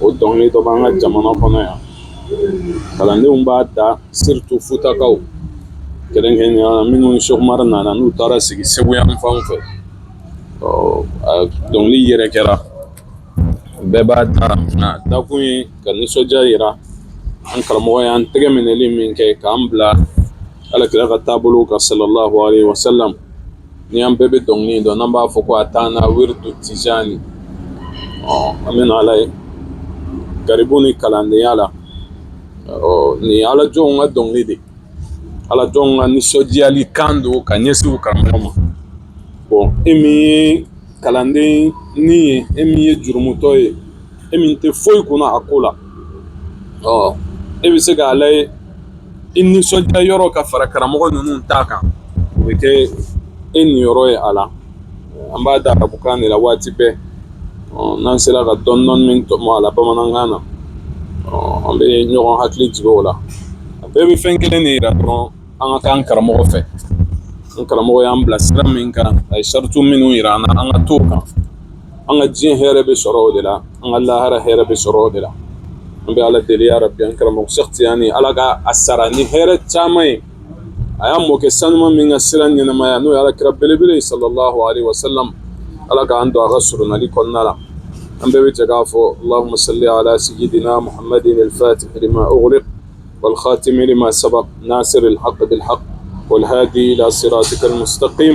o dɔnkili dɔ bɛ an ka jamana kɔnɔ yan kalandenw b'a da surtu futakaw kɛrɛnkɛrɛn minnu sɛku umar nana n'u taara sigi segu yan fan fɛ dɔnkili yɛrɛ kɛra bɛɛ b'a da dakun ye ka nisɔndiya jira an karamɔgɔ y'an tɛgɛ minɛli min kɛ k'an bila ala kira ka taabolo kan sallallahu alaihi wasallam ni an bɛɛ bɛ dɔnkili dɔn n'an b'a fɔ ko atana wirdu tijani an bɛ ala ye garibu ni kalandenya la nin ala jɔnw ka dɔnkili de ala jɔnw ka nisɔndiyali kan don ka ɲɛsin u karamɔgɔ ma bon e min ye kalandennin ye e min ye jurumutɔ ye e min tɛ foyi kunna a ko la ɔ e bɛ se k'a layi i nisɔndiya yɔrɔ ka fara karamɔgɔ ninnu ta kan o bɛ kɛ e niyɔrɔ ye a la an b'a da arabukan de la waati bɛɛ n'an sera ka dɔɔnin min tɔmɔ a la bamanankan na an bɛ ɲɔgɔn hakili jigin o la a bɛɛ bɛ fɛn kelen de yira dɔrɔn an ka k'an karamɔgɔ fɛ an karamɔgɔ y'an bila sira min kan a ye saratu minnu yira an na an ka t'o kan an ka diɲɛ hɛrɛ bɛ sɔrɔ o de la an ka lahara hɛrɛ bɛ sɔrɔ o de la an bɛ ala deli ya rabbi an karamɔgɔ sɛki tijani ala ka a sara ni hɛrɛ caman ye a y'a mɔkɛ sanuma min ka sira ɲɛnamaya n'o ye ala kira belebele ye sallallahu alaihi wasallam ala k'an don a ka soronali kɔnɔna la an bɛɛ bɛ jɛ k'a fɔ allahumma salli ala sayyidina muhammadin al-fatihi lima ughliqa wal khatimi lima sabaqa nasiril haqqi bil haqqi wal hadi ila siratikal mustaqim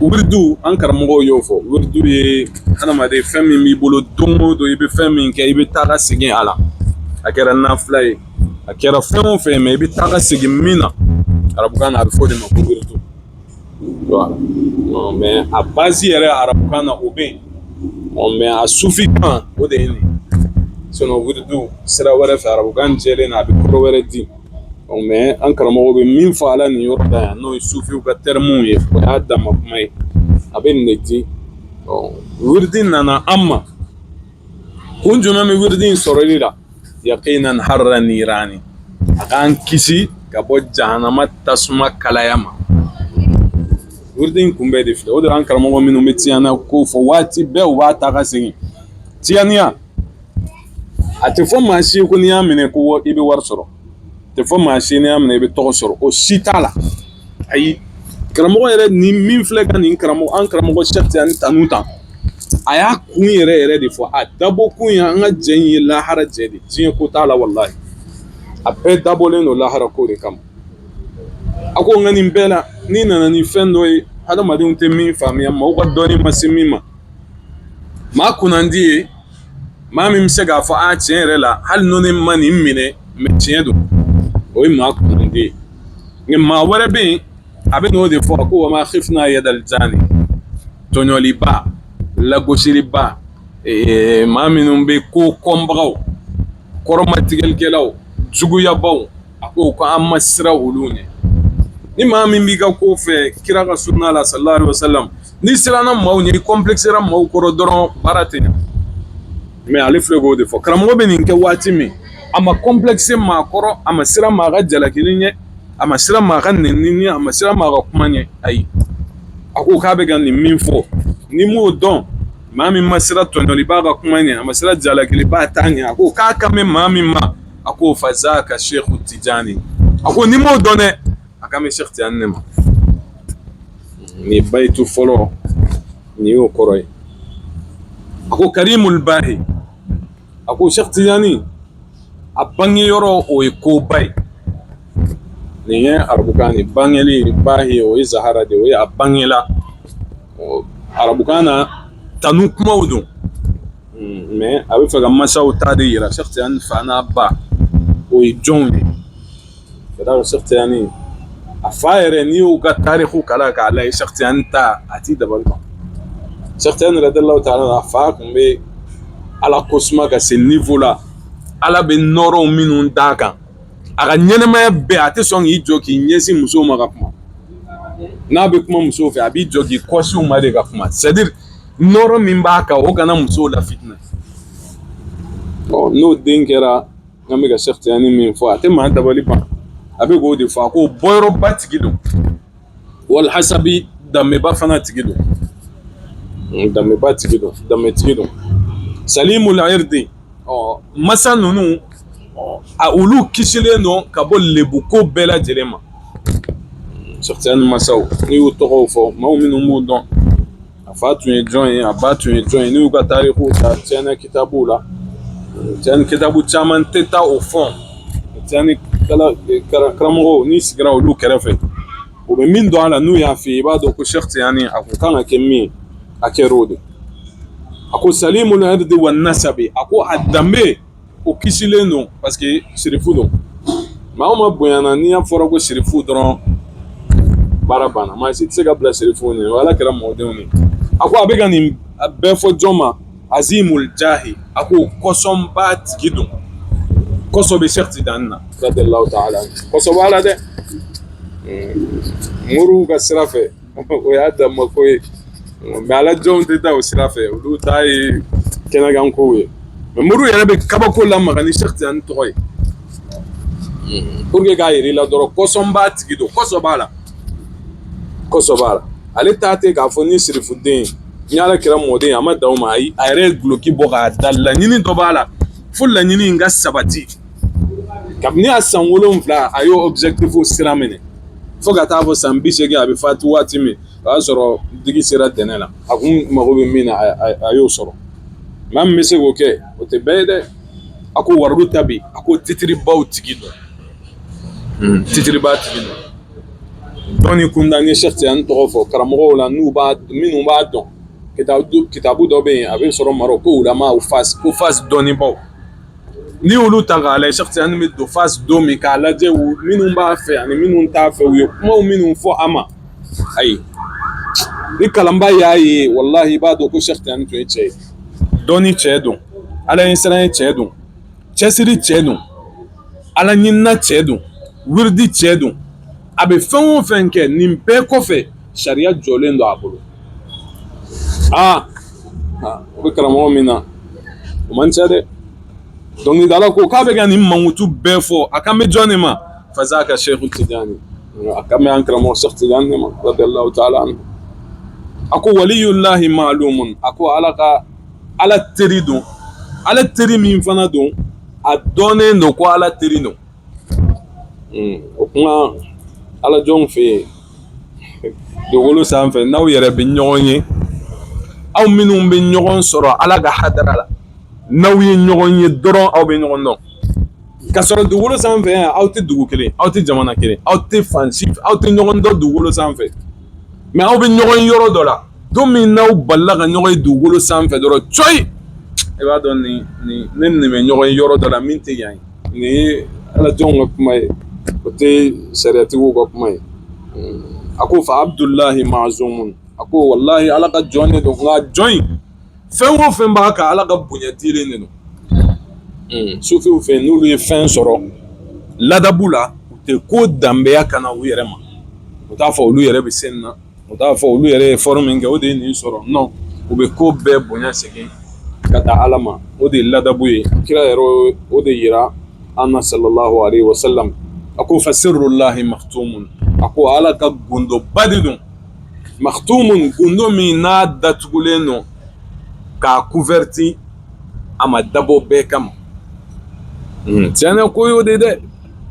wirdu an karamɔgɔw y'o fɔ wirdu ye hadamaden fɛn min b'i bolo don o don i bɛ fɛn min kɛ i bɛ taa ka segin a la a kɛra nafila ye a kɛra fɛn o fɛn mɛ i bɛ taa ka segin min na arabukan na a bɛ fɔ o de ma ko wirdu mɛ a bazi yɛrɛ arabukan na o bɛ yen mɛ a sufi kan o de ye nin ye sinon wirdu sira wɛrɛ fɛ arabukan jɛlen na a bɛ kɔrɔ wɛrɛ di mɛ an karamɔgɔ bɛ min fɔ a la nin yɔrɔ la yan n'o ye sufiw ka tɛrmuw ye o y'a dama kuma ye a bɛ nin di wurudi nana an ma kun jumɛn bɛ wurudi in sɔrɔli la yaqina harra nirani a k'an kisi ka bɔ jahanama tasuma kalaya ma wurudi in kun bɛɛ de filɛ o de an karamɔgɔ minnu bɛ tiyani ko fɔ waati bɛɛ u b'a ta ka segin tiyaniya a tɛ fɔ maa si ko n'i y'a minɛ ko i bɛ wari sɔrɔ tɛ fɔ maa si n'i y'a minɛ i bɛ tɔgɔ sɔrɔ o si t'a la ayi karamɔgɔ yɛrɛ ni min filɛ ka nin karamɔgɔ an karamɔgɔ seku tijani tanu ta a y'a kun yɛrɛ yɛrɛ de fɔ a dabɔ kun ye an ka jɛ in ye lahara jɛ de diɲɛ ko t'a la walahi a bɛɛ dabɔlen don lahara ko de kama a ko nka nin bɛɛ la n'i nana ni fɛn dɔ ye hadamadenw tɛ min faamuya maaw ka dɔnni ma se min ma maa kunnandi ye maa min bɛ se k'a fɔ a tiɲɛ yɛrɛ la hali ni ne ma nin minɛ mɛ tiɲɛ don o ye maa kunnandi ye nka maa wɛrɛ bɛ yen a bɛ n'o de fɔ a ko wa ma khifna yadal jani tɔɲɔliba lagosiliba maa minnu bɛ ko kɔnbagaw kɔrɔmatigɛlikɛlaw juguyabagaw a ko ko an ma siran olu ɲɛ ni maa min b'i ka ko fɛ kira ka sunna la sallallahu alaihi wasallam n'i siranna maaw ɲɛ i kɔnplɛkisɛra maaw kɔrɔ dɔrɔn baara tɛ ɲɛ mɛ ale filɛ k'o de fɔ karamɔgɔ bɛ nin kɛ waati min a ma kɔnplɛkisɛ maa kɔrɔ a ma siran maa ka jalakili ɲɛ a ma siran maa ka nenini ɲɛ a ma siran maa ka kuma ɲɛ ayi a ko k'a bɛ ka nin min fɔ n'i m'o dɔn maa min ma siran tɔɲɔliba ka kuma ɲɛ a ma siran jalakiliba ta ɲɛ a ko k'a kan bɛ maa min ma a ko fazaka seku tijani a ko n'i m'o dɔn dɛ a kan bɛ seku tijani ne ma nin bayitu fɔlɔ nin y'o kɔrɔ ye a ko karimul bahi a ko seku tijani a bangeyɔrɔ o ye koba ye nin ye arabukan de bangeli ba ye o ye zahara de o ye a bangela arabukan na tanu kumaw don hmm, mɛ a bɛ fɛ ka masaw ta de yira seku tijani fa n'a ba o ye jɔnw ye ka d'a kan seku tijani a fa yɛrɛ n'i y'u ka tariku kalan k'a lajɛ seku tijani ta a t'i dabali ban seku tijani radiyallahu ta'ala a fa tun bɛ ala ko suma ka se nivo la ala bɛ nɔrɔw minnu d'a kan a ka ɲɛnamaya bɛɛ a tɛ sɔn k'i jɔ k'i ɲɛsin musow ma ka kuma n'a bɛ kuma musow fɛ a b'i jɔ k'i kɔsin u ma de ka kuma c'est à dire nɔrɔ min b'a kan o kana musow lafitinɛ ɔ n'o den kɛra n'an bɛ ka seku tijani min fɔ a tɛ maa dabali ban a bɛ k'o de fɔ a ko bɔyɔrɔba tigi don walhasabi danbeba fana tigi don danbeba tigi don danbetigi don salimul irdi masa ninnu a olu kisilen don ka bɔ lebuko bɛɛ lajɛlen ma seku tijani masaw n'i y'u tɔgɔw fɔ maaw minnu b'u dɔn a fa tun ye jɔn ye a ba tun ye jɔn ye n'i y'u ka tarikuw ta tijani kitabuw la tijani kitabu caman tɛ taa o fɔ tijani karamɔgɔw n'i sigira olu kɛrɛfɛ u bɛ min dɔn a la n'u y'a f'i ye i b'a dɔn ko sɛki tijani a kun kan ka kɛ min ye a kɛra o de a ko salimul irdi wa nasabi a ko a danbe o kisilen don parce que sirifu don maa o maa bonyana ni a fɔra ko sirifu dɔrɔn baara banna maa si tɛ se ka bila sirifu ni ala kira mɔdenw ɲɛ a ko a bɛ ka nin bɛɛ fɔ jɔn ma azimul jahi a ko kɔsɔnba tigi don kɔsɔ bɛ sɛki tijani na radiyallahu ta'ala kɔsɔ b'a la dɛ moriw ka sira fɛ o y'a danma ko ye mais ala jɔnw tɛ taa o sira fɛ olu ta ye kɛnɛkan kow ye mais moriw yɛrɛ bɛ kabako lamaga ni sɛki tijani tɔgɔ ye pour que k'a yir'i la dɔrɔn kɔsɔnba tigi don kɔsɔn b'a la kɔsɔn b'a la ale ta tɛ k'a fɔ ni sirifuden ni ala kira mɔden a ma dan o ma ayi a yɛrɛ ye guloki bɔ k'a da laɲini dɔ b'a la fo laɲini in ka sabati kabini a san wolonwula a y'o objectif sira minɛ fo ka taa fo san bi segin a bɛ fatu waati min o y'a sɔrɔ digi sera dɛnɛ la a kun mago bɛ min na a y'o sɔrɔ maa min bɛ se k'o kɛ o tɛ bɛɛ ye dɛ a ko waridu ta bi a ko titiribaw tigi don hmm. titiriba tigi don dɔnni kunda ni sɛki tijani tɔgɔ fɔ karamɔgɔw la minnu b'a dɔn kitabu dɔ bɛ yen a bɛ sɔrɔ marɔki ko wulama ko fasi dɔnnibaw n'i y'olu ta k'a lajɛ sɛki tijani bɛ don fasi don min k'a lajɛ minnu b'a fɛ ani minnu t'a fɛ u ye kumaw minnu fɔ a ma ayi ni kalanbaa y'a ye walahi i b'a dɔn ko sɛki tijani tun ye cɛ ye dɔnni cɛ don ala ɲɛsiranɲɛ cɛ don cɛsiri cɛ don ala ɲinina cɛ don wiridi cɛ don a bɛ fɛn o fɛn kɛ nin bɛɛ kɔfɛ sariya jɔlen don a bolo aa o bɛ karamɔgɔ min na o man ca dɛ dɔnkilidala ko k'a bɛ ka nin mankutu bɛɛ fɔ a kan bɛ jɔn de ma fazaka seku tijani a kan bɛ an karamɔgɔ seku tijani de ma radiyallahu ta'ala anhu a ko waliyulahi ma'lumun a ko ala ka ala teri don ala teri min fana don a dɔnnen don ko ala teri don o kuma ala jɔnw fɛ yen dugukolo sanfɛ n'aw yɛrɛ bɛ ɲɔgɔn ye aw minnu bɛ ɲɔgɔn sɔrɔ ala ka hadara la n'aw ye ɲɔgɔn ye dɔrɔn aw bɛ ɲɔgɔn dɔn ka sɔrɔ dugukolo sanfɛ yan aw tɛ dugu kelen aw tɛ jamana kelen aw tɛ fan aw tɛ ɲɔgɔn dɔn dugukolo sanfɛ mais aw bɛ ɲɔgɔn ye yɔrɔ dɔ la don min n'aw balila ka ɲɔgɔn ye dugukolo sanfɛ dɔrɔn coyi i b'a dɔn ne ni nin bɛ ɲɔgɔn ye yɔrɔ dɔ la min tɛ yan ye nin ye ala jɔnw ka kuma ye o tɛ sariyatigiw ka kuma ye a ko fa abudulayi mazumun a ko walayi ala ka jɔn ne don nga jɔn in fɛn o fɛn b'a kan ala ka bonya dilen de don sufiw fɛ n'olu ye fɛn sɔrɔ ladabu la u tɛ ko danbeya kana u yɛrɛ ma u t'a fɔ olu yɛrɛ bɛ sen na u t'a fɔ olu yɛrɛ ye effort min kɛ o de ye nin sɔrɔ non u bɛ ko bɛɛ bonya segin ka taa ala ma o de ye ladabu ye kira yɛrɛ o de yira an na salalahu alayhi wa sallam a ko fa sirulahi maktumun a ko ala ka gundoba de don maktumun gundo min n'a datugulen don k'a couverti a ma dabɔ bɛɛ kama tiɲɛ ko y'o de dɛ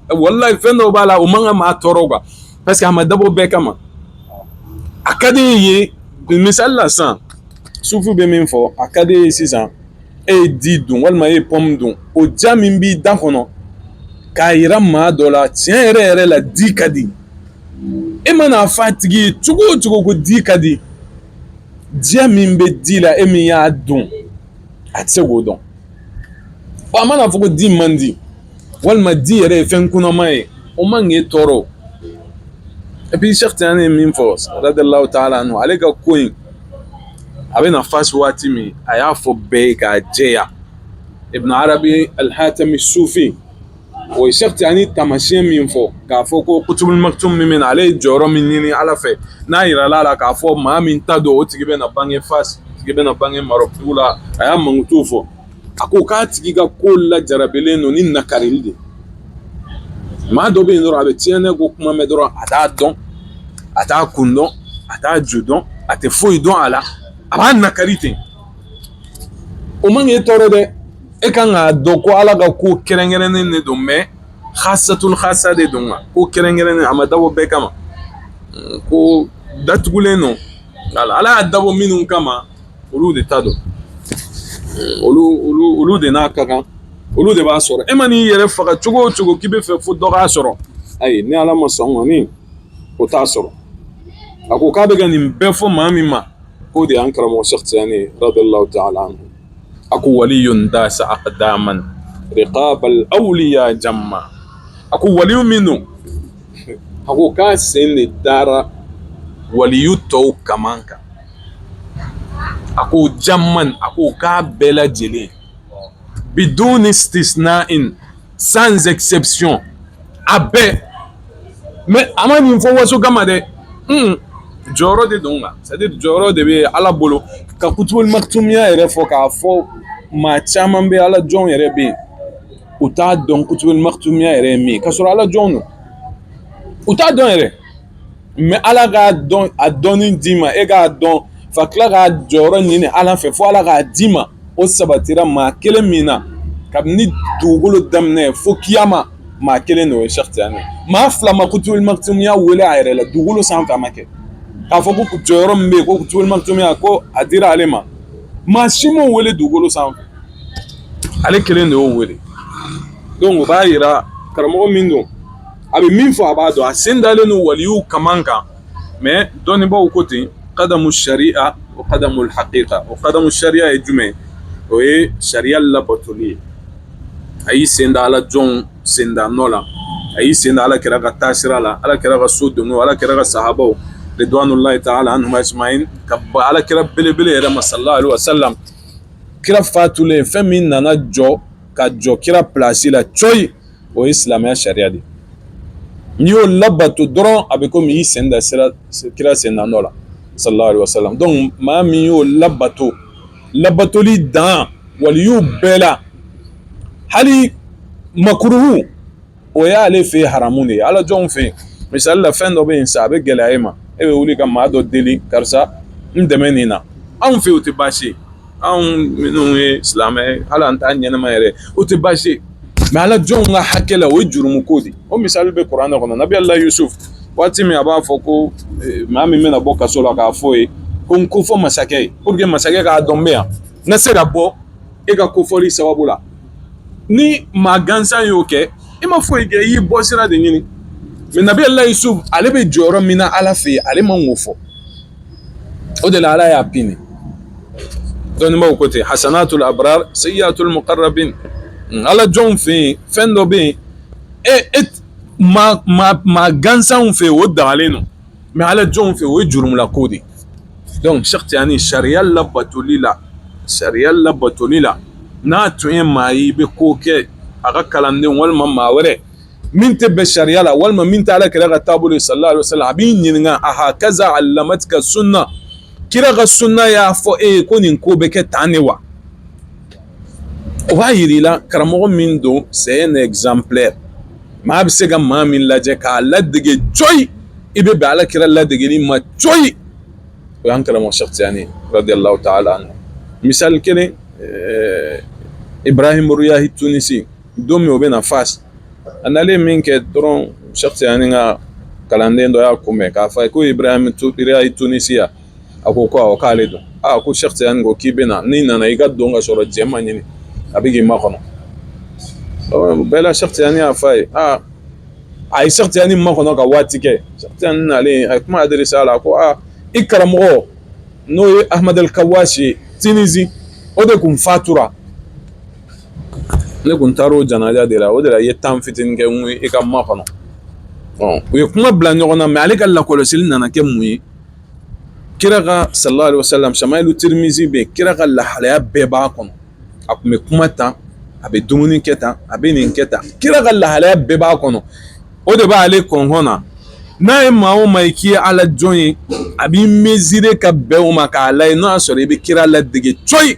walayi fɛn dɔ b'a la o man ka maa tɔɔrɔ quoi parce que a ma dabɔ bɛɛ kama a ka di e ye misali la sisan sufu bɛ min fɔ a ka di e ye sisan e ye di dun walima e ye pɔmu dun o diya min b'i da kɔnɔ k'a yira maa dɔ la tiɲɛ yɛrɛ yɛrɛ la di ka di e mana a fɔ a tigi ye cogo o cogo ko di ka di diya min bɛ di la e min y'a dun a tɛ se k'o dɔn a mana fɔ ko di man di walima di yɛrɛ ye fɛn kunaman ye o man k'e tɔɔrɔ et puis sɛki tijani ye min fɔ radiyalahu taala anhu ale ka ko in a bɛ na fasi waati min a y'a fɔ bɛɛ ye k'a jɛya ibn arabi alihatami sufi O ye Sɛki Tijani taamasiyɛn min fɔ k'a fɔ ko kutubuli makitumi min bɛ na ale ye jɔyɔrɔ min ɲini Ala fɛ n'a jirala a la k'a fɔ maa min ta don o tigi bɛna bange Fasi o tigi bɛna bange Marɔku dugu la a y'a mankutu fɔ a ko k'a tigi ka ko lajarabilen don ni nakarili de ye maa dɔ bɛ yen dɔrɔn a bɛ Tijani ko kuma mɛn dɔrɔn a t'a dɔn a t'a kun dɔn a t'a ju dɔn a tɛ foyi dɔn a la a b'a nakari ten o man k'i tɔɔrɔ dɛ e ka kan k'a dɔn ko ala ka ko kɛrɛnkɛrɛnnen de don mɛ hasatul hasa de don ko kɛrɛnkɛrɛnnen a ma dabɔ bɛɛ kama ko datugulen don ala ala y'a dabɔ minnu kama olu de ta don olu de n'a ka kan olu de b'a sɔrɔ e mana i yɛrɛ faga cogo o cogo k'i bɛ fɛ fo dɔ k'a sɔrɔ ayi ni ala ma sɔn kɔni o t'a sɔrɔ a ko k'a bɛ ka nin bɛɛ fɔ maa min ma k'o de y'an karamɔgɔ sɛki tijani ye radiyalahu taala a ko waliyun dasa akdaman rikabal awliya jamman a ko wali min don a ko k'a sen de dara waliyu tɔw kan kan a ko jamman a ko k'a bɛɛ lajɛlen biduni istisna sans exception a bɛɛ mais a ma nin fɔ waso kama dɛ jɔyɔrɔ de don nka c'est à dire jɔyɔrɔ de bɛ ala bolo ka Qutbul Maktumiya yɛrɛ fɔ k'a fɔ maa caman bɛ ala jɔnw yɛrɛ bɛ yen u t'a dɔn Qutbul Maktumiya yɛrɛ ye min ye k'a sɔrɔ ala jɔnw don u t'a dɔn yɛrɛ mais ala k'a dɔn a dɔnni d'i ma e k'a dɔn fa tila k'a jɔyɔrɔ ɲini ala fɛ fo ala k'a d'i ma o sabatira maa kelen min na kabini dugukolo daminɛ fo kiyama maa kelen de o ye Cheikh Tidiane maa fila ma Qutbul Maktumiya wele a yɛrɛ la dugukolo sanfɛ a ma kɛ k'a fɔ ko jɔyɔrɔ min bɛ yen ko Qutbul Maktumiya ko a dira ale ma maa si m'o wele dugukolo sanfɛ ale kelen de y'o wele donc o b'a jira karamɔgɔ min don a bɛ min fɔ a b'a dɔn a sen dalen don waliw kaman kan mais dɔnnibaaw ko ten kadamu sariya o kadamu hakika o kadamu sariya ye jumɛn o ye sariya labatoli ye a y'i sen da ala jɔnw sen da nɔ la a y'i sen da ala kira ka taasira la ala kira ka so don ala kira ka sahabaw ridwanullahi ta'ala alayhim ka bɔ ala kira belebele yɛrɛ ma sallallahu alaihi wasallam kira fatulen fɛn min nana jɔ ka jɔ kira place la coyi o ye silamɛya sariya de n'i y'o labato dɔrɔn a bɛ komi i y'i sen da kira sen da nɔ la sallallahu alaihi wasallam donc maa min y'o labato labatoli dan waliyuw bɛɛ la hali makuruhu o y'ale fɛ haramu de ye ala jɔnw fɛ yen misali la fɛn dɔ bɛ yen sa a bɛ gɛlɛya e ma e bɛ wuli ka maa dɔ deli karisa n dɛmɛ nin na anw fɛ yen o tɛ baasi ye anw minnu ye silamɛ ye hali an ta ɲɛnama yɛrɛ o tɛ baasi ye mais ala jɔnw ka hakɛ la o ye jurumu ko de o misali bɛ kuran kɔnɔ nabiyullah yusuf waati min a b'a fɔ ko eh, maa min bɛna bɔ kaso la k'a f'o ye ko n kofɔ masakɛ ye pour que masakɛ k'a dɔn n bɛ yan n ka se ka bɔ e ka kofɔli sababu la ni maa gansan y'o kɛ i ma foyi kɛ i y'i bɔ sira de ɲini mais nabiyullah yusuf ale bɛ jɔyɔrɔ min na ala fɛ yen ale man k'o fɔ o de la ala y'a pini dɔnnibaaw ko ten hasanatul abrar sayyiatul muqarrabin ala jɔnw fɛ yen fɛn dɔ bɛ yen e e ma ma maa gansanw fɛ o dagalen don mais ala jɔnw fɛ o ye jurumula ko de donc Cheikh Tidiane sariya labatoli la sariya labatoli la n'a tun ye maa ye i bɛ ko kɛ a ka kalanden walima maa wɛrɛ min tɛ bɛn sariya la walima min tɛ ala kira ka taabolo ye sallallahu alaihi wasallam a b'i ɲininka a hakaza alamatika sunna kira ka sunna y'a fɔ e ye ko nin ko bɛ kɛ tan de wa o b'a jira i la karamɔgɔ min don c'est un exemple maa bɛ se ka maa min lajɛ k'a ladege coyi i bɛ bɛn ala kira ladegeli ma coyi o y'an karamɔgɔ Cheikh Tidiane radiyallahu ta'ala anhu misali kelen Ibrahim Riyahi Tunisi don min o bɛ na fas a nalen min kɛ dɔrɔn sɛki tijani ka kalanden dɔ y'a kunbɛn k'a f'a ye ko ibrahim riyahi tunisi a ko awɔ k'ale don aa ko sɛki tijani ko k'i bɛ na n'i nana i ka don ka sɔrɔ cɛ ma ɲini a bɛ k'i makɔnɔ bɛɛ la sɛki tijani y'a f'a ye aa a ye sɛki tijani makɔnɔ ka waati kɛ sɛki tijani nalen a ye kuma adressé a la ko aa i karamɔgɔ n'o ye ahmad al-kawashi tunisi o de kun fatura ne kun taara o janaja de la o de la i ye temps fitinin kɛ n i ka makɔnɔ u ye kuma bila ɲɔgɔn na mɛ ale ka lakɔlɔsili nana kɛ mun ye kira ka sallallahu alaihi wasallam shamailu tirmizi bɛ yen kira ka lahalaya bɛɛ b'a kɔnɔ a kun bɛ kuma tan a bɛ dumuni kɛ tan a bɛ nin kɛ tan kira ka lahalaya bɛɛ b'a kɔnɔ o de b'ale kɔnɔn na n'a ye maa o maa ye k'i ye ala jɔn ye a b'i mesurer ka bɛn o ma k'a lajɛ n'a y'a sɔrɔ i bɛ kira ladege cogo ye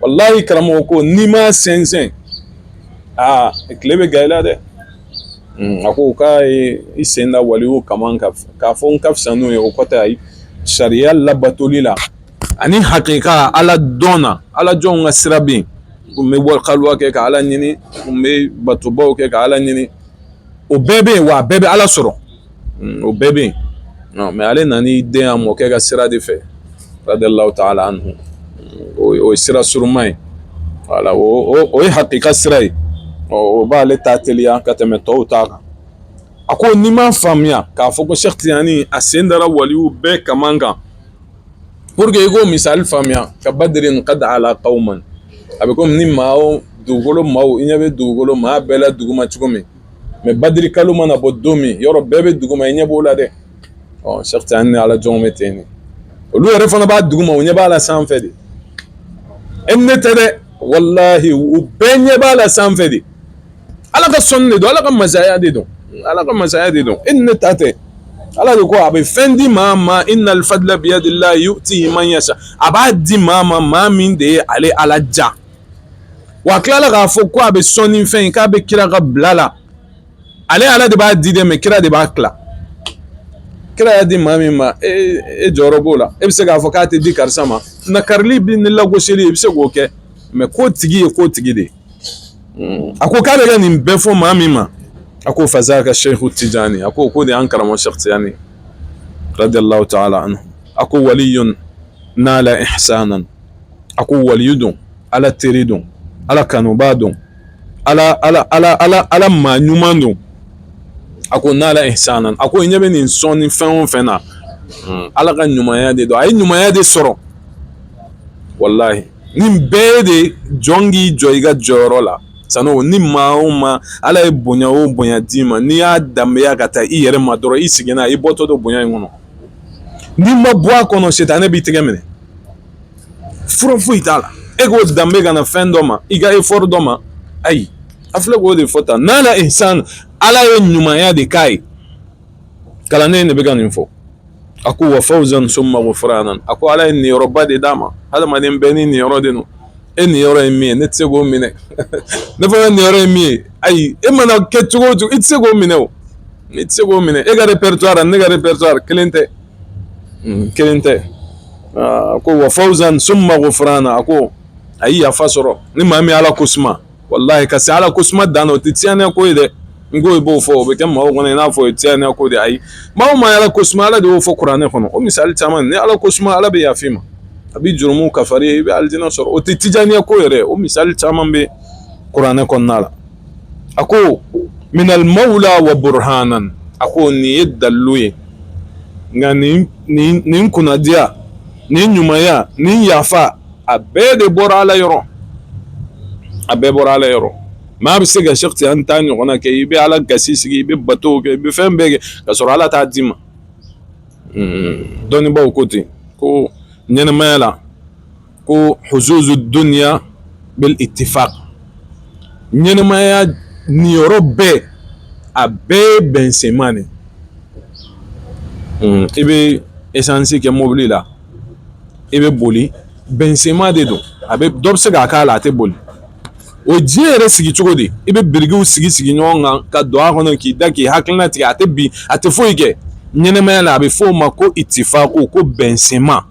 walahi karamɔgɔ ko n'i ma sɛnsɛn aa tile bɛ gan i la dɛ a ko k'a y'i sen da waliyu kaman k'a fɔ n ka fisa n'o ye o kɔrɔ tɛ ayi sariya labatoli la ani hakika ala dɔn na ala jɔnw ka sira bɛ yen k'u bɛ kaluwa kɛ ka ala ɲini k'u bɛ batobaw kɛ ka ala ɲini o bɛɛ bɛ yen wa bɛɛ bɛ ala sɔrɔ o bɛɛ bɛ yen mɛ ale nan'i den a mɔkɛ ka sira de fɛ radiyalahu taala anhu o ye sira surunman ye voilà o ye hakika sira ye ɔ o b'ale ta teliya ka tɛmɛ tɔw ta kan a ko n'i m'a faamuya k'a fɔ ko sɛki tijani a sen dara waliw bɛɛ kaman kan pour que i k'o misali faamuya ka badrin qad ala qawman a bɛ komi ni maa dugukolo maaw i ɲɛ bɛ dugukolo maa bɛɛ la duguma cogo min mɛ badiri kalo mana bɔ don min yɔrɔ bɛɛ bɛ duguma i ɲɛ b'o la dɛ sɛki tijani ni ala jɔnw bɛ ten olu yɛrɛ fana b'a duguma u ɲɛ b'a la sanfɛ de e ne tɛ dɛ walahi u bɛɛ ɲɛ b'a la sanfɛ de ala ka sɔnni de don ala ka masaya de don ala ka masaya de don e ne ta tɛ ala de ko a bɛ fɛn di maa ma innal fadla biyadillahi yutihi man yasha a b'a di maa ma maa min de ye ale ala ja wa a tilala k'a fɔ ko a bɛ sɔnni fɛn in k'a bɛ kira ka bila la ale ala de b'a di dɛ mɛ kira de b'a tila kira y'a di maa min ma e, e jɔyɔrɔ b'o la e bɛ se k'a fɔ k'a tɛ di karisa ma nakarili bi ni lagosili i bɛ se k'o kɛ mɛ kotigi ye kotigi de ye hmm. a ko k'a bɛ ka nin bɛɛ fɔ maa min ma a ko fazaka seyiku tijani a ko k'o de y'an karamɔgɔ sɛki tijani radiyalahu taala anhu a ko waliyun nala ihsanan a ko waliyu don ala teri don ala kanubaa don ala maa ɲuman don a ko nala ihsan a ko ɲɛ bɛ nin sɔn ni fɛn o fɛn na hmm. ala ka ɲumanya de don a ye ɲumanya de sɔrɔ walahi nin bɛɛ de jɔn k'i jɔ i ka jɔyɔrɔ la sabu ni maa o maa ala ye bonya o bonya d'i ma n'i y'a danbeya ka taa i yɛrɛ ma dɔrɔn i seginna i bɔtɔ don bonya in kɔnɔ n'i ma bɔ a kɔnɔ sitanɛ b'i tɛgɛ minɛ fura foyi t'a la e k'o danbe ka na fɛn dɔ ma i ka effort dɔ ma ayi a filɛ k'o de fɔ tan nala ihsan ala ye ɲumanya de k'a ye kalanden de bɛ ka nin fɔ a ko wa fawzan summa ghufranan a ko ala ye niyɔrɔba de d'a ma hadamaden bɛɛ ni niyɔrɔ de don e niyɔrɔ ye min ye ne tɛ se k'o minɛ ne fana niyɔrɔ ye min ye ayi e mana kɛ cogo o cogo i tɛ se k'o minɛ o i tɛ se k'o minɛ e ka répertoire ne ka répertoire kelen tɛ kelen tɛ ko wa fawzan summa ghufranan a ko a ye yafa sɔrɔ ni maa min ala ko suma wala ka se ala ko suma dan na o tɛ tijaaniya ko ye dɛ n ko i b'o fɔ o bɛ kɛ mɔgɔw kɔnɔ i n'a fɔ tijaaniya ko de ayi maa ma ala ko suma ala de y'o fɔ kuranɛ kɔnɔ o misali caman ni ala ko suma ala bɛ yafa i ma a bɛ jurumu kafari i bɛ alijinɛ sɔrɔ o tɛ tijaaniya ko yɛrɛ o misali caman bɛ kuranɛ kɔnɔna la a ko minal mawla wa burhanan a ko nin ye dalilu ye nka nin kunnadiya nin ɲumanya nin yafa a bɛɛ de bɔra ala yɔrɔ a bɛɛ bɔra ala yɔrɔ maa bɛ se ka sheikh tijani ta ɲɔgɔnna kɛ i bɛ ala gasi sigi i bɛ bato kɛ i bɛ fɛn bɛɛ kɛ ka sɔrɔ ala t'a d'i ma dɔnnibaw ko ten ko ɲɛnɛmaya la ko huzuzu duniya bil ittifaq ɲɛnɛmaya niyɔrɔ bɛɛ a bɛɛ ye bɛnsenma de i bɛ esansi kɛ mobili la i bɛ boli bɛnsenma de don a bɛ dɔ bɛ se k'a k'a la a tɛ boli o diɲɛ yɛrɛ sigi cogo di i bɛ birikiw sigi sigi ɲɔgɔn kan ka don a kɔnɔ k'i da k'i hakilina tigɛ a tɛ bin a tɛ foyi kɛ ɲɛnɛmaya la a bɛ f'o ma ko ittifaqu ko bɛnsenma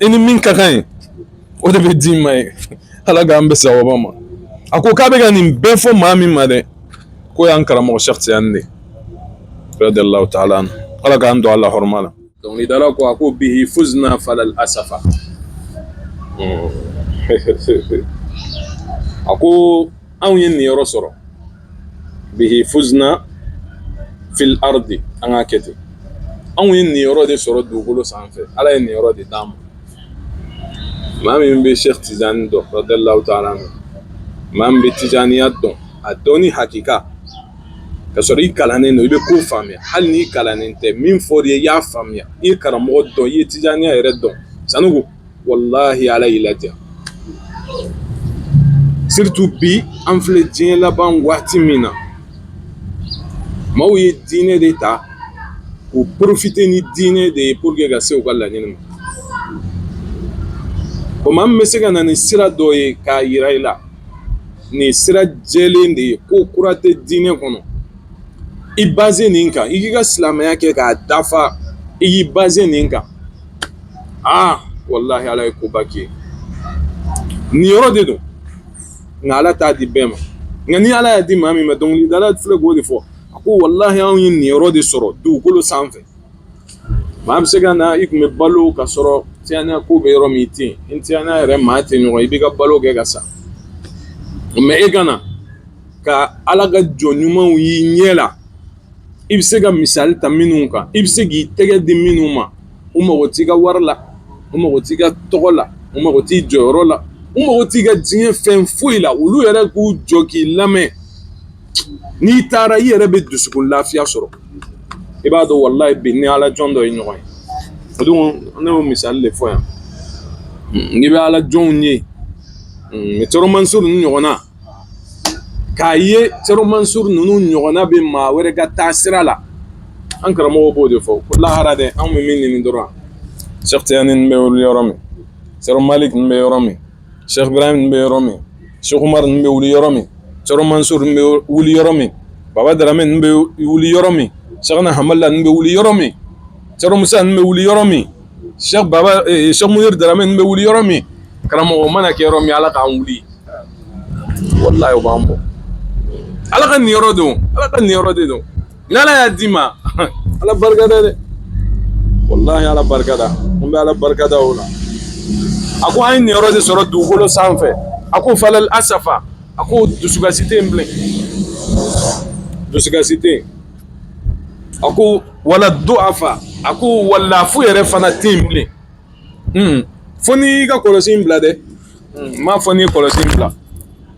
i ni min ka kan ye o de bɛ d'i ma ye ala k'an bɛn sawaba ma a ko k'a bɛ ka nin bɛɛ fɔ maa min ma dɛ k'o y'an karamɔgɔ sheikh tijani de radiyallahu ta'ala anhu ala k'an don a la hɔrɔma la dɔnkilidala ko a ko bihi fuzna falal asafa a ko anw ye niyɔrɔ sɔrɔ bihi fuzna fil ardi an k'a kɛ ten anw ye niyɔrɔ de sɔrɔ dugukolo sanfɛ ala ye niyɔrɔ de d'an ma maa min bɛ sheikh tijani dɔn radiyallahu ta'ala anhu maa min bɛ tijaniya dɔn a dɔnni hakika ka sɔrɔ i kalannen don i bɛ ko faamuya hali n'i kalannen tɛ min fɔr'i ye i y'a faamuya i ye karamɔgɔ dɔn i ye tijaniya yɛrɛ dɔn sanko walahi ala y'i ladiya surtout bi an filɛ diɲɛ laban waati min na maaw ye diinɛ de ta k'u profiter ni diinɛ de ye pour que ka se u ka laɲini ma o maa min bɛ se ka na ni sira dɔ ye k'a yira i la nin sira jɛlen de ye ko kura tɛ diinɛ kɔnɔ i basé nin kan i k'i ka silamɛya kɛ k'a dafa i y'i basé nin kan aa walahi ala ye koba kɛ nin yɔrɔ de don nka ala t'a di bɛɛ ma nka ni ala y'a di maa min ma dɔnkilidala filɛ k'o de fɔ a ko walahi anw ye nin yɔrɔ de sɔrɔ dugukolo sanfɛ maa bɛ se ka na i tun bɛ balo ka sɔrɔ Tijaniya ko bɛ yɔrɔ min i tɛ yen Tijaniya yɛrɛ maa tɛ ɲɔgɔn i b'i ka balo kɛ ka sa mɛ e ka na ka ala ka jɔn ɲumanw y'i ɲɛ la i bɛ se ka misali ta minnu kan i bɛ se k'i tɛgɛ di minnu ma u mago t' i ka wari la u mago t' i ka tɔgɔ la u mago t' i jɔyɔrɔ la u mago t' i ka diɲɛ fɛn foyi la olu yɛrɛ k'u jɔ k'i lamɛn n'i taara i yɛrɛ bɛ dusukun lafiya sɔrɔ i b'a dɔn walahi bi ni ala jɔn dɔ ye ɲɔgɔn ye o don ne y'o misali de fɔ yan n'i bɛ ala jɔnw ye Cɛrɔ Mansuru ninnu ɲɔgɔnna K'a ye Cɛrɔ Mansuru ninnu ɲɔgɔnna bɛ maa wɛrɛ ka taa sira la an karamɔgɔ b'o de fɔ ko lahara dɛ anw bɛ min ɲini dɔrɔn Cheikh Tijani ninnu bɛ wuli yɔrɔ min Cɛrɔ Malik ninnu bɛ yɔrɔ min Cheikh Ibrahim ninnu bɛ yɔrɔ min Cheikh Umar ninnu bɛ wuli yɔrɔ min Cɛrɔ Mansuru ninnu bɛ wuli yɔrɔ min Baba Darame ninnu bɛ wuli yɔrɔ min Cheikhna Hamala ninnu bɛ wuli yɔrɔ min Cɛrɔ Musa ninnu bɛ wuli yɔrɔ min Cheikh Munir Darame ninnu bɛ wuli yɔrɔ min karamɔgɔ mana kɛ yɔrɔ min ala k'an wuli walahi o b'an bɔ ala ka nin yɔrɔ don ala ka nin yɔrɔ de don ni ala y'a d'i ma ala barikada dɛ walahi ala barikada an bɛ ala barikada o la a ko an ye nin yɔrɔ de sɔrɔ dugukolo sanfɛ a ko fala asafa a ko dusukasi tɛ yen bilen dusukasi tɛ yen A ko wala du'afa a ko walahi lafu yɛrɛ fana tɛ yen bilen fo n'i y'i ka kɔlɔsi in bila dɛ n m'a fɔ n'i ye kɔlɔsi bila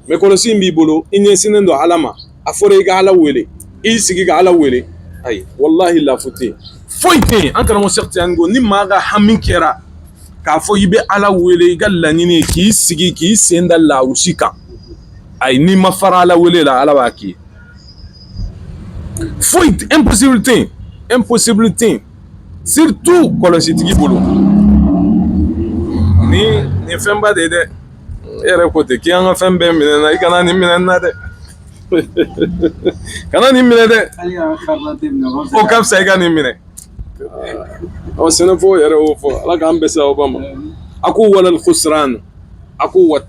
mɛ kɔlɔsi in b'i bolo i ɲɛ sinnen don ala ma a fɔra i ka ala wele i sigi ka ala wele ayi walahi lafu tɛ yen foyi tɛ yen an karamɔgɔ Cheikh Tijani ko ni maa ka hami kɛra k'a fɔ i bɛ ala wele i ka laɲini k'i sigi k'i sen da lawusi kan ayi n'i ma fara ala wele la ala b'a k'i Foyi tɛ impossible tɛ yen impossible tɛ yen surtout kɔlɔsitigi bolo ni nin ye fɛnba de ye dɛ e yɛrɛ ko ten k'i y'an ka fɛn bɛɛ minɛ n na i kana nin minɛ n na dɛ kana nin minɛ dɛ o ka fisa i ka nin minɛ ɔ sɛnɛfɔw yɛrɛ y'o fɔ ala k'an bɛn sawaba ma a ko walal khusran A ko wa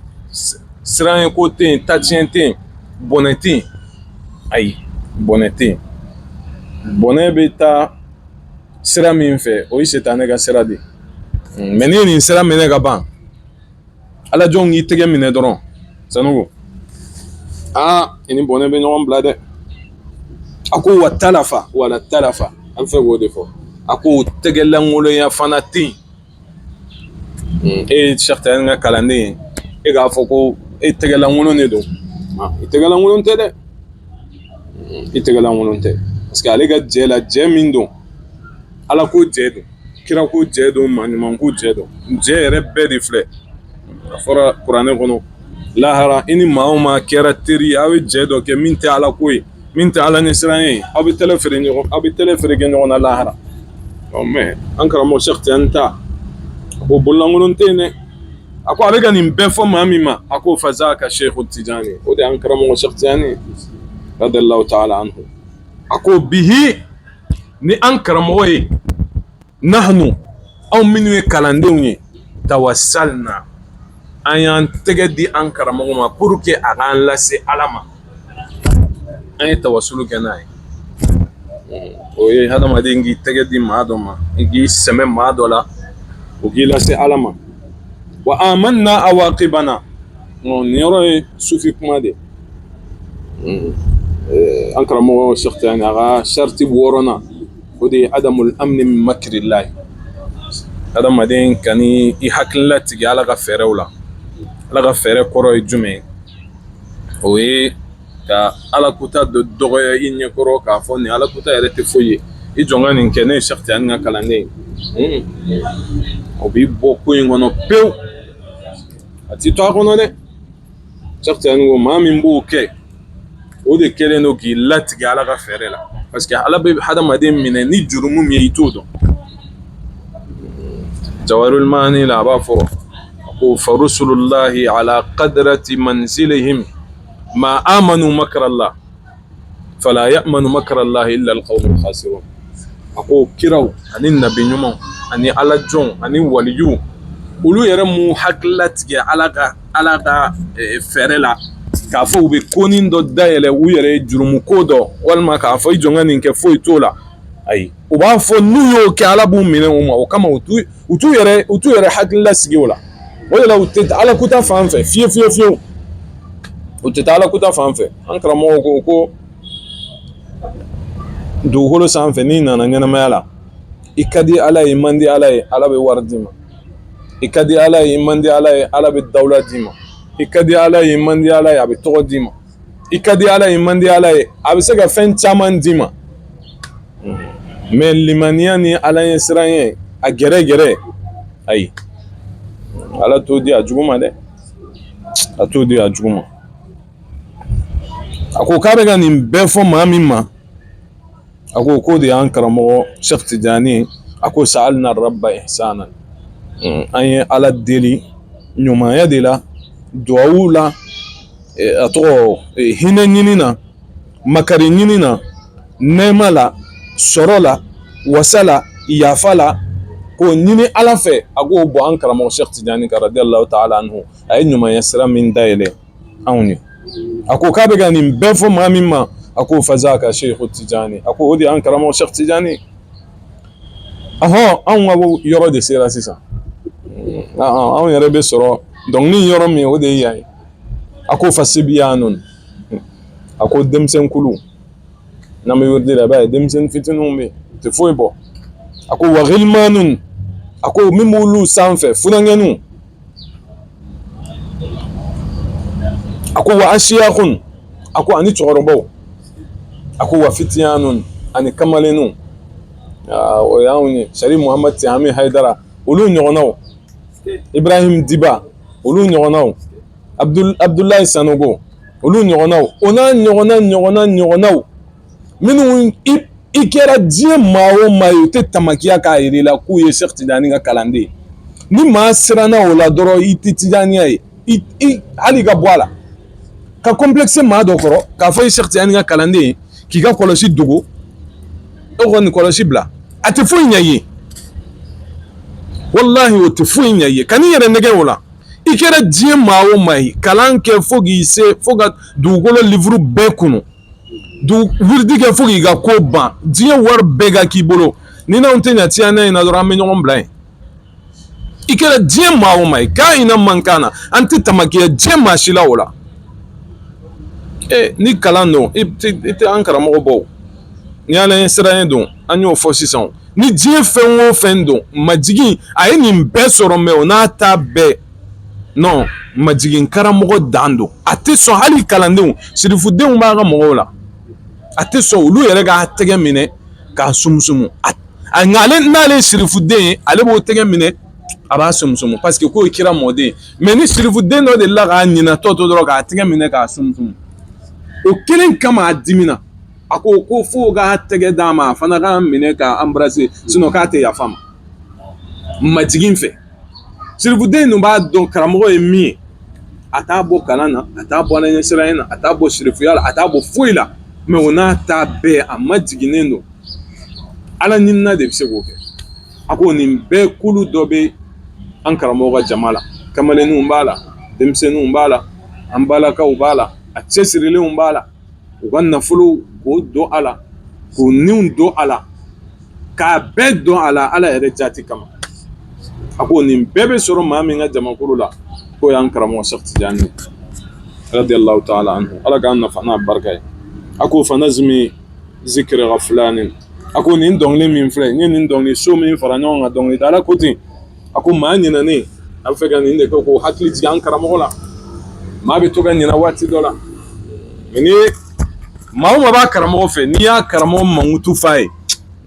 siran ye ko tɛ yen tatiɲɛ tɛ yen bɔnɛ tɛ yen ayi bɔnɛ tɛ yen bɔnɛ bɛ taa sira min fɛ o ye sitanɛ ka sira de ye mɛ n'i ye nin sira minɛ ka ban ala jɔn y'i tɛgɛ minɛ dɔrɔn sanu aa i ni bɔnɛ bɛ ɲɔgɔn bila dɛ a ko wa talafa wala talafa an fɛ k'o de fɔ a ko tɛgɛlankolonya fana tɛ yen e ye sɛki tijani ka kalanden ye e k'a fɔ ko e tɛgɛlankolon de don i tɛgɛlankolon tɛ dɛ i tɛgɛlankolon tɛ parce que ale ka jɛ la jɛ min don ala ko jɛ don kira ko jɛ don maa ɲuman ko jɛ don jɛ yɛrɛ bɛɛ de filɛ a fɔra kuranɛ kɔnɔ lahara i ni maa o maa kɛra teri aw ye jɛ dɔ kɛ min tɛ ala ko ye min tɛ ala ɲɛsiran ye aw bɛ tɛmɛ feere ɲɔgɔn aw bɛ tɛmɛ feere kɛ ɲɔgɔn na lahara ɔ mɛ an karamɔgɔ sɛki tijani ta o bololankolon tɛ yen dɛ a ko a bɛ ka nin bɛɛ fɔ maa min ma a ko fazaka sɛku tijani o de an karamɔgɔ sɛki tijani radiyallahu ta'ala anhu a ko bihi ni an karamɔgɔ ye nahnu anw minnu ye kalandenw ye tawassalna an y'an tɛgɛ di an karamɔgɔ ma pour que a k'an lase ala ma an ye tawasulu kɛ n'a ye o ye hadamaden k'i tɛgɛ di maa dɔ ma i k'i sɛmɛ maa dɔ la o k'i lase ala ma wa amanna awaqibana nin yɔrɔ ye sufi kuma de an karamɔgɔ sɛki tijani a ka sariti wɔɔrɔnan o de ye adamul amni min makirillahi adamaden kan'i hakili latigɛ ala ka fɛɛrɛw la ala ka fɛɛrɛ kɔrɔ ye jumɛn o ye ka ala kuta dɔ dɔgɔya i ɲɛkɔrɔ k'a fɔ nin ala kuta yɛrɛ tɛ foyi ye i jɔ ka nin kɛ ne ye sɛki tijani ka kalanden ye o b'i bɔ ko in kɔnɔ pewu a t'i to a kɔnɔ dɛ Sɛki tijani ko maa min b'o kɛ o de kɛlen don k'i latigɛ ala ka fɛɛrɛ la parce que ala bɛ hadamaden minɛ ni jurumu min ye i t'o dɔn jawahirul maani la a b'a fɔ ko farusulullahi ala qadrati manzilihim ma amanu makrallah fala ya'manu makrallahi illa alqawmul khasirun a ko kiraw ani nabi ɲumanw ani ala jɔnw ani waliju olu yɛrɛ m'u hakili latigɛ ala ka ala ka fɛɛrɛ la k'a fɔ u bɛ konin dɔ dayɛlɛ u yɛrɛ jurumu ko dɔ walima k'a fɔ i jɔn ka nin kɛ foyi t'o la ayi u b'a fɔ n'u y'o kɛ ala b'u minɛ o ma o kama u t'u yɛrɛ u t'u yɛrɛ hakili lasigi o la o de la u tɛ ala kuta fan fɛ fiye fiye fiyewu u tɛ taa ala kuta fan fɛ an karamɔgɔ ko ko dugukolo sanfɛ n'i nana ɲɛnamaya la i ka di ala ye man di ala ye ala bɛ wari d'i ma i ka di ala ye man di ala ye ala bɛ dawula d'i ma i ka di ala ye man di ala ye a bɛ tɔgɔ d'i ma i ka di ala ye man di ala ye a bɛ se ka fɛn caman d'i ma mɛ limaniya ni ala ɲɛsiran ye a gɛrɛ gɛrɛ ayi ala t'o di a jugu ma dɛ a t'o di a jugu ma a ko k'a bɛ ka nin bɛɛ fɔ maa min ma a ko k'o de y'an karamɔgɔ Sɛki Tijani a ko sa'alna rabba ihsanan an ye Ala deli ɲumanya de la duwawu la a tɔgɔ hinɛ ɲini na makari ɲini na nɛɛma la sɔrɔ la wasa la yafa la k'o ɲini Ala fɛ a k'o bɔn an karamɔgɔ Sɛki Tijani kan radiyallahu taala anhu a ye ɲumanya sira min dayɛlɛ anw ye a ko k'a bɛ ka nin bɛɛ fɔ maa min ma a ko fazaka Sɛki Tijani a ko o de y'an karamɔgɔ Sɛki Tijani ahɔn anw ka yɔrɔ de sera sisan anw yɛrɛ bɛ sɔrɔ dɔnkili yɔrɔ min o de ye yan ye a ko fasibiyanun a ko denmisɛnkulu n'an bɛ wiridi la i b'a ye denmisɛnnin fitininw bɛ yen u tɛ foyi bɔ a ko wa ghilmanun a ko min b'olu sanfɛ funankɛninw a ko wa ashiyakun a ko ani cɛkɔrɔbaw a ko wa fitiyanun ani kamalenninw o y'anw ye sari muhamadu tihami hayidara olu ɲɔgɔnnaw ibrahim diba olu ɲɔgɔnnaw abudulayi sanogo olu ɲɔgɔnnaw o n'a ɲɔgɔnna ɲɔgɔnna ɲɔgɔnnaw minnu i kɛra diɲɛ maa o maa ye u tɛ tamakiya k'a yira i la k'u ye Sɛki Tijani ka kalanden ye ni maa siranna o la dɔrɔn i tɛ Tijaniya ye i hali i ka bɔ a la ka complexe maa dɔ kɔrɔ k'a fɔ i ye Sɛki Tijani ka kalanden ye k'i ka kɔlɔsi dogo e kɔni kɔlɔsi bila a tɛ foyi ɲɛ i ye walahi o tɛ foyi ɲɛ i ye kan'i yɛrɛ nɛgɛn o la i kɛra diɲɛ maa o maa ye kalan kɛ fo k'i se fo ka dugukolo livuru bɛɛ kunu wiridi kɛ fo k'i ka ko ban diɲɛ wari bɛɛ ka k'i bolo n'i n'anw tɛ jɛ tiɲɛ in na dɔrɔn an bɛ ɲɔgɔn bila yen i kɛra diɲɛ maa o maa ye ka'ina man kana an tɛ tamakiya diɲɛ maa si la o la ni kalan don i tɛ an karamɔgɔ bɔ ni ala ɲɛsiran don an y'o fɔ sisan ni diɲɛ fɛn o fɛn don majigin a ye nin bɛɛ sɔrɔ mais o n'a ta bɛɛ majigin karamɔgɔ dan don a tɛ sɔn hali kalandenw sirifudenw b'a ka mɔgɔw la a tɛ sɔn olu yɛrɛ k'a tɛgɛ minɛ k'a sumusumu nka ale n'ale sirifuden ye ale b'o tɛgɛ minɛ a b'a sumusumu parce que k'o kira mɔden mais ni sirifuden dɔ de la k'a ɲinatɔ to dɔrɔn k'a tɛgɛ minɛ k'a sumusumu o kelen kama a dimina a ko ko fo k'a tɛgɛ d'a ma a fana k'a minɛ k'a embrasser sinon k'a tɛ yafa ma majigin fɛ sirifuden ninnu b'a dɔn karamɔgɔ ye min ye a t'a bɔ kalan na a t'a bɔ ala ɲɛsiranɲɛ na a t'a bɔ sirifuya la a t'a bɔ foyi la mais o n'a ta bɛɛ a majiginnen don ala ɲinina de bɛ se k'o kɛ a ko nin bɛɛ kulu dɔ bɛ an karamɔgɔ ka jama la kamalenninw b'a la denmisɛnninw b'a la an balakaw b'a la a cɛsirilenw b'a la u ka nafolo k'o don a la k'u niw don a la k'a bɛɛ don a la ala yɛrɛ jati kama a ko nin bɛɛ bɛ sɔrɔ maa min ka jamakulu la k'o y'an karamɔgɔ sɛki tijani radiyallahu ta'ala anhu ala k'an nafa n'a barika ye a ko fanazimi zikri ghaflanin a ko nin dɔnkili min filɛ nin ye nin dɔnkili so min fara ɲɔgɔn kan dɔnkili dala ko ten a ko maa ɲinɛnen a bɛ fɛ ka nin de kɛ k'o hakili jigin an karamɔgɔ la maa bɛ to ka ɲinɛ waati dɔ la ni maa o maa b'a karamɔgɔ fɛ n'i y'a karamɔgɔ mankutu f'a ye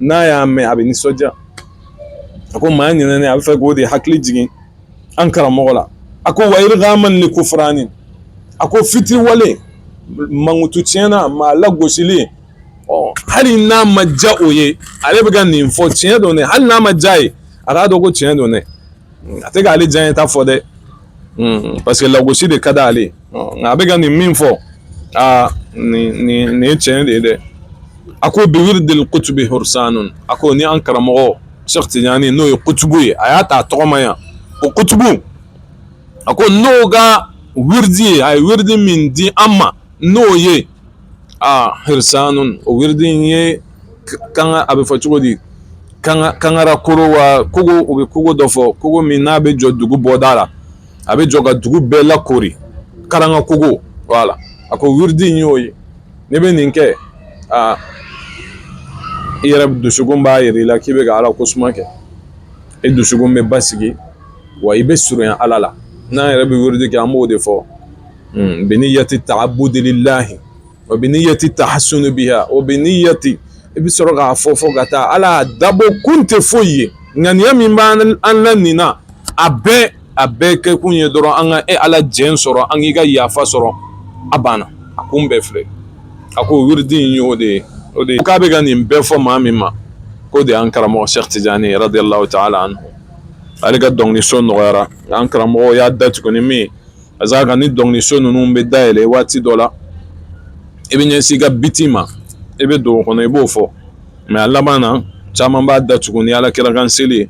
n'a y'a mɛn a bɛ nisɔndiya a ko maa ɲinɛnen a bɛ fɛ k'o de hakili jigin an karamɔgɔ la a ko wa irghaman li kufranin a ko fitiriwale mankutu tiɲɛna maa lagosili hali n'a ma diya o ye ale bɛ ka nin fɔ tiɲɛ don dɛ hali n'a ma diya ye a k'a dɔn ko tiɲɛ don dɛ a tɛ k'ale diyanyeta fɔ dɛ parce que lagosi de ka d'ale nka a bɛ ka nin min fɔ aa nin nin nin ye tiɲɛ de ye dɛ a ko bi wirdil kutubi hursanun a ko ni an karamɔgɔ sɛki tijani n'o ye kutubu ye a y'a ta a tɔgɔ ma yan o kutubu a ko n'o ka wiridi ye a ye wiridi min di an ma n'o ye aa hursanun o wiridi in ye kan a bɛ fɔ cogo di kanga kangara kogo wa kogo u bɛ kogo dɔ fɔ kogo min n'a bɛ jɔ dugu bɔda la a bɛ jɔ ka dugu bɛɛ lakoori karanga kogo voilà a ko wiridi in y'o ye n'i bɛ nin kɛ aa i yɛrɛ dusukun b'a jira i la k'i bɛ ka ala ko suma kɛ i dusukun bɛ basigi wa i bɛ surunya ala la n'an yɛrɛ bɛ wiridi kɛ an b'o de fɔ hmm, bi niyyati ta'abbudi lillahi wa bi niyyati tahassunu biha wa bi niyyati i bi sɔrɔ k'a fɔ fo ka taa ala dabɔ kun tɛ foyi ye ŋaniya min b'an la nin na a bɛɛ a bɛɛ kɛkun ye dɔrɔn an ka e ala jɛn sɔrɔ an k'i ka yafa sɔrɔ a banna a kun bɛɛ filɛ a ko wiridi in y'o de ye o de ye k'a bɛ ka nin bɛɛ fɔ maa min ma k'o de y'an karamɔgɔ sɛki tijani radiyallahu ta'ala anhu ale ka dɔnkiliso nɔgɔyara an karamɔgɔ y'a datugu ni min ye a ka kan ni dɔnkiliso ninnu bɛ dayɛlɛ waati dɔ la i bɛ ɲɛsin i ka biti ma i bɛ don o kɔnɔ i b'o fɔ mɛ a laban na caman b'a datugu ni ala kira kan seli ye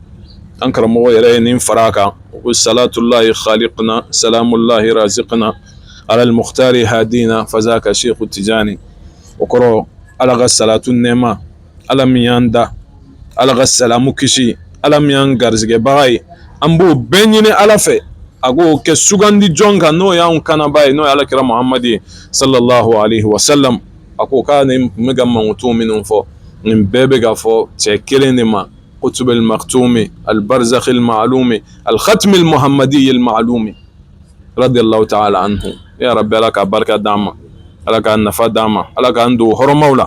an karamɔgɔ yɛrɛ ye nin fara a kan ko salatullahi khaliqna salamullahi raziqna ala al-mukhtari hadina fazaka sɛki tijani o kɔrɔ ala ka salatu nɛma ala min y'an da ala ka salamu kisi ala min y'an garisɛgɛbaga ye an b'o bɛɛ ɲini ala fɛ a k'o kɛ sugandi jɔn kan n'o y'an kanaba ye n'o ye ala kira mahamadu ye sallallahu alayhi wa sallam a ko k'a nin bɛ ka mankutu minnu fɔ nin bɛɛ bɛ ka fɔ cɛ kelen de ma qutb al-maktumi al-barzakh al-ma'lumi al-khatm al-muhammadi al-ma'lumi radiyallahu ta'ala anhu ya rabbi ala k'a barika d'an ma ala k'a nafa d'an ma ala k'an don hɔrɔma la